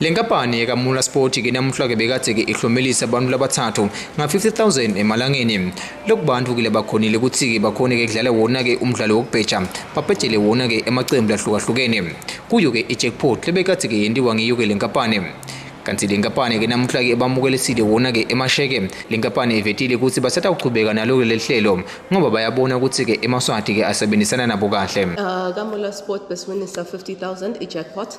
Le nkampani yekaMula Sport ke namuhla-ke bekade-ke ihlomelisa abantu labathathu nga-50000 emalangeni loku bantu ke labakhonile ukuthi-ke bakhone-ke kudlala wona-ke umdlalo wokubheja babhejele wona-ke emacembu lahlukahlukene kuyo-ke i-jackpot lebekade-ke yentiwa ngiyo-ke le nkampani kanti le nkampani ke namuhla ke bamukelesile wona ke emasheke le nkampani ivetile ukuthi basatawuchubeka nalo ke leli hlelo ngoba bayabona ukuthi ke emaswati ke asebenzisana nabo kahle uh, kamula sport besiwinisa 50000 i-jackpot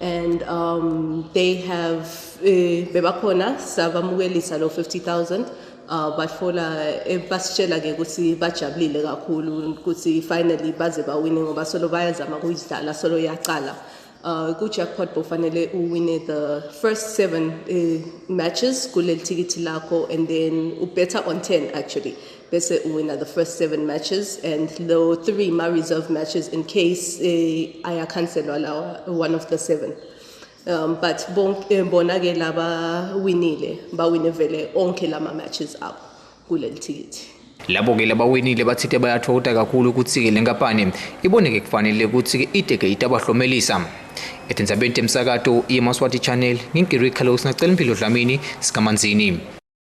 and um, they have eh, bebakhona sabamukelisa lo 50000 uh, bafola eh, basitshela ke ukuthi bajabulile kakhulu ukuthi finally baze bawine ngoba solo bayazama kuyidlala solo yaqala uh, ku-jackpot bofanele uwine the first seven uh, matches kuleli thikithi lakho and then ubetha on 10 actually bese uwina the first seven matches and lo three ma-reserve matches in case uh, eh, ayakhanselwa lawa one of the seven um, but eh, bona-ke laba winile bawine vele onke lama matches abo kuleli thikithi labo-ke labawinile bathithe bayathokota kakhulu ukuthi-ke le nkampani iboneke kufanele ukuthi-ke ideke itabahlomelisa ethinzabeni temsakato yemaswati channel ngingiri carlos nacela impilo dlamini sikamanzini